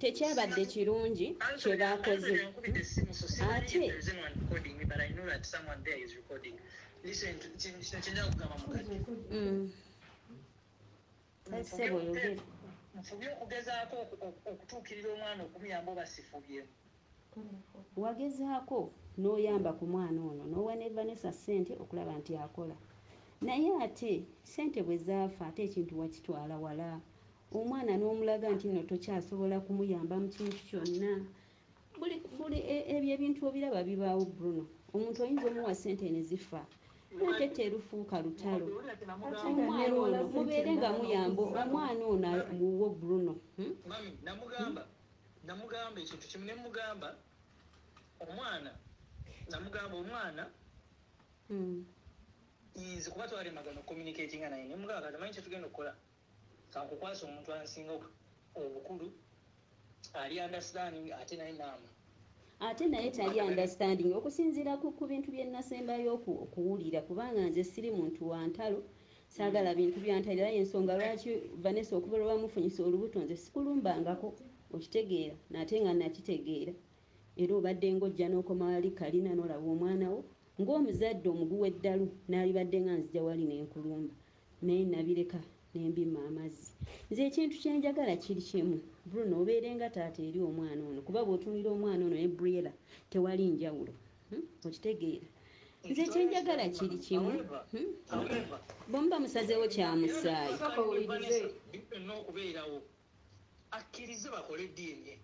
Tekyabadde kirungi kye baakoze. Ate. Kale ssebo oyogere. Wagezaako n'oyamba ku mwana ono n'owa ne Vanessa ssente okulaba nti akola. Naye ate ssente bwe zaafa ate ekintu wakitwala wala. omwana n'omulaga nti nno tokyasobola kumuyamba mu kintu kyonna buli e, ebyo ebintu obiraba bibaawo bruno omuntu oyinza omuwa sente ne zifa ate terufuuka lutalo omwana ono mubeere nga muyamba omwana ono wuwo bruno hmm? namugamba ekintu kimu nemugamba omwana namugamba omwana hmm. nze kuba twali magana okomunikatinga naye nemugamba kati manyi kyetugenda okukola Kankukwase omuntu ansinga obukulu ali understanding ate naye maama. Ate naye tali understanding okusinziira ku ku bintu bye nasembayo okuwulira kubanga nze siri muntu wa ntalo saagala bintu bya ntalo era yensonga lwaki Vanessa okuva lwe wamufunyisa olubuto nze sikulumbangako okitegeera nate nga nakitegeera era obadde ng'ojja n'okoma wali kalina n'olaba omwana wo ng'omuzadde omuguwa eddalu n'alibadde nga nzija wali ne nkulumba naye nabireka ne mbimma amazzi. Nze ekintu kye njagala kiri kimu, Bruno obeere nga taata eri omwana ono kuba bw'otunuulira omwana ono ne Briella tewali njawulo. Hmm? Okitegeera? nze kyenjagala kiri kimu hmm? bwemuba musazeewo kyamusaayi akkirize bakole DNA.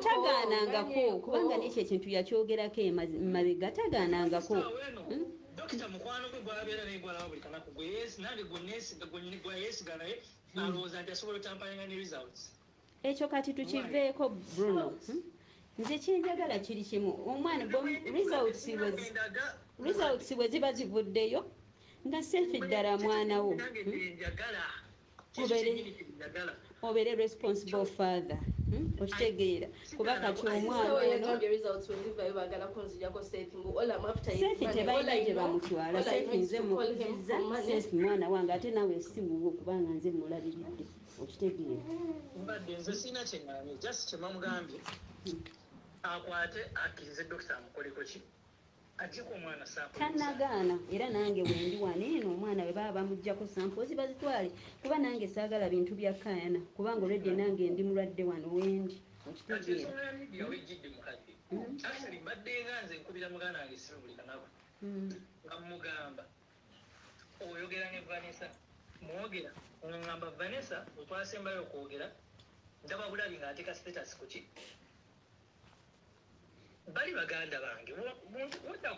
Tagaanangako kubanga nekyo ekintu yakyogerako emabega hmm. tagaanangako. Hmm? Dokita mukwano gwe gwabeera naye gwalaba buli kanaku gwe yeesi nange gwe yeesiga naye hmm. alowooza nti asobola otampayanga ne results. Ekyo kati tukiveeko Bruno. Nze kyenjagala kiri kimu omwana results bwe ziba zivuddeyo nga seefi ddala mwana wo. obere responsible father hmm? okitegeera kuba kati omwanasefi tebalina gye bamutwala sefi nze mukuziza sefi mwana wange ate nawe siwuwo kubanga nze mulabiridde okitegeera mbadde nze sirina kyeŋŋambye just kyemamugambye akwate akkirize dokita amukoleko ki Ajjeko omwana saako tanagaana era nange wendi wano eno omwana bwe baba bamujjako sampoozi bazitwale kuba nange saagala bintu bya kaayana kubanga olwedde nange ndi mulwadde wano wendi okitegeera hmm? mbaddenga nze nkubira muganda wange simu buli kanaku hmm. nga mugamba oyogera ne vanessa mwogera ngamba vanessa wetwasembayo okwogera ndaba bulabi ng'ateeka status kuki Bali baganda bange muntu wodda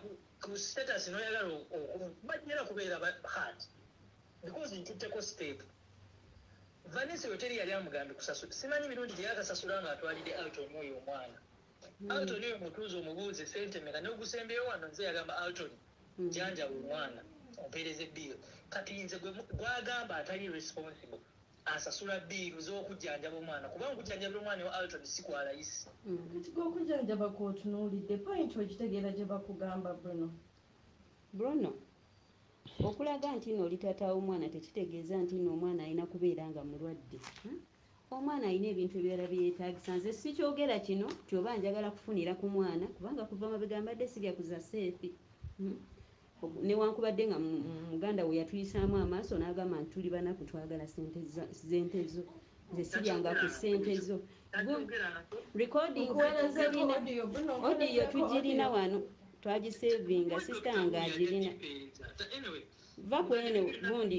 ku status noyagala bajjera kubeera ba heart because ntutteko step Vanessa oyo teri yali amugambye kusasula simanyi mirundi gyeyakasasula nga atwalidde Alton oyo omwana mm. Alton oyo mutuuze omubuuze sente meka nogusembyeyo wano nze yagamba Alton mm. janjaba omwana ompeereze bill kati nze gwagamba atali responsible asasula bbiiru z'okujjanjaba omwana kubanga okujjanjabira omwana ewa Alton si kwa layisi. Kati gwe okujjanjaba kw'otunuulidde point ogitegeera gye bakugamba Bruno? Bruno, Okulaga nti nno oli taata w'omwana tekitegeeza nti nno omwana alina kubeera nga mulwadde. Omwana alina ebintu ebirala bye yeetaagisa. Nze sikyogera kino nti oba njagala kufunira ku mwana kubanga kuva mabega mbadde sirya ku za seefi. Newankubadde nga muganda we yatuyisaamu amaaso n'agamba nti tuli banaku twagala ssente zo nze siryanga ku ssente zo odiyo tugirina wano twagisevinga sisita wange agirina va kwene gundi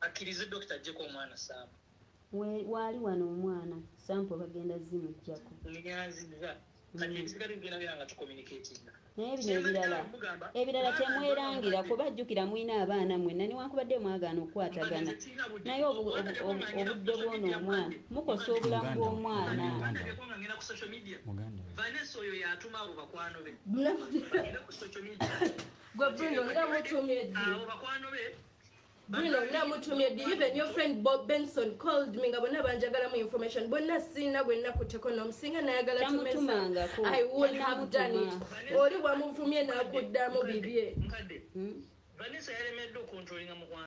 Akirize doctor ajjeko omwana Sam. Mwe waali wano omwana sample bagenda zimujjako. Munyanziza kati ebisigade tugenda beera nga tu communicatinga. Naye bino ebirala ebirala temwerangira kuba jukira mulina abaana mwenna newankubadde mwagaana okukwatagana naye obudde bwono omwana mukosa obulamu bwomwana. Bruno namutumye di even your friend Bob Benson called me nga bonna banjagalamu information bonna sirina gwe nakutteko nom singa nayagala to mess up I would have done it oli wamuvumye nakuddamu bibye hmm? Vanessa yalemeddwa okontrolinga mukwano